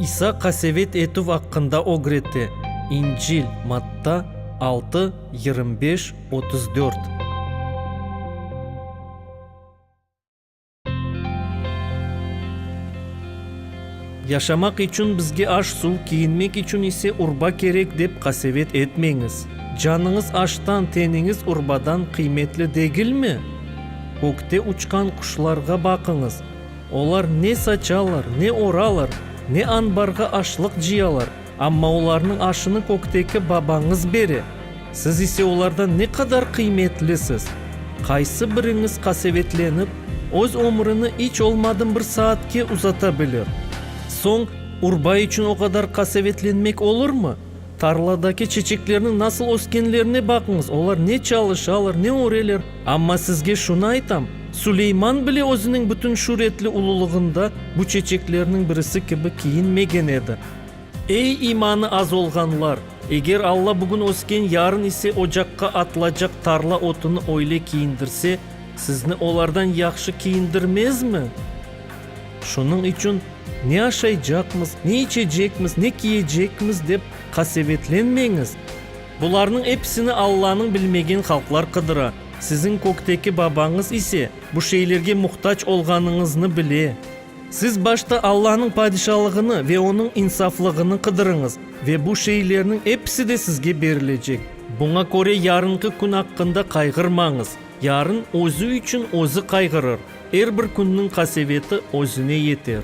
İsa qasevet etüv aqqında ögrete, İncil, Matta, altı, yirmi beş, otuz dört. Yaşamaq içün bizge aş-suv, kiyinmek içün ise urba kerek dep qasevet etmeñiz. Canıñız aştan, teniñiz urbadan qıymetli degilmi? Kökte uçqan quşlarğa baqıñız. Olar ne saçalar, ne oralar, ne anbarğa aşlıq cıyalar, amma olarnıñ aşını kökteki Babañız bere. Siz ise olardan ne qadar qıymetlisiz! Qaysı biriñiz qasevetlenip, öz ömrüni iç olmadım bir saatke uzata bilir? Soñ, urba içün o qadar qasevetlenmek olurmı? Tarladaki çeçeklerniñ nasıl öskenlerine baqıñız, olar ne çalışalar, ne öreler. Amma sizge şunı aytam, Suleyman bile özüniñ bütün şüretli ululığında bu çeçeklerniñ birisi kibi kiyinmegen edi. Ey, imanı az olğanlar! Eger Alla bugün ösken, yarın ise ocaqqa atılacaq tarla otunu öyle kiyindirse, sizni olardan yahşı kiyindirmezmi? Şunıñ içün, ne aşaycaqmız, ne içecekmiz, ne kiyecekmiz dep qasevetlenmeñiz. Bularnıñ episini Allanıñ bilmegen halqlar qıdıra, siziñ kökteki Babañız ise bu şeylerge muhtac olğanıñıznı bile. Siz başta Allanıñ Padişalığını ve onıñ insaflığını qıdırıñız, ve bu şeylerniñ episi de sizge berilecek. Buña köre yarıñkı kün aqqında qayğırmañız, yarın özü içün özü qayğırır. Er bir künniñ qaseveti özüne yeter.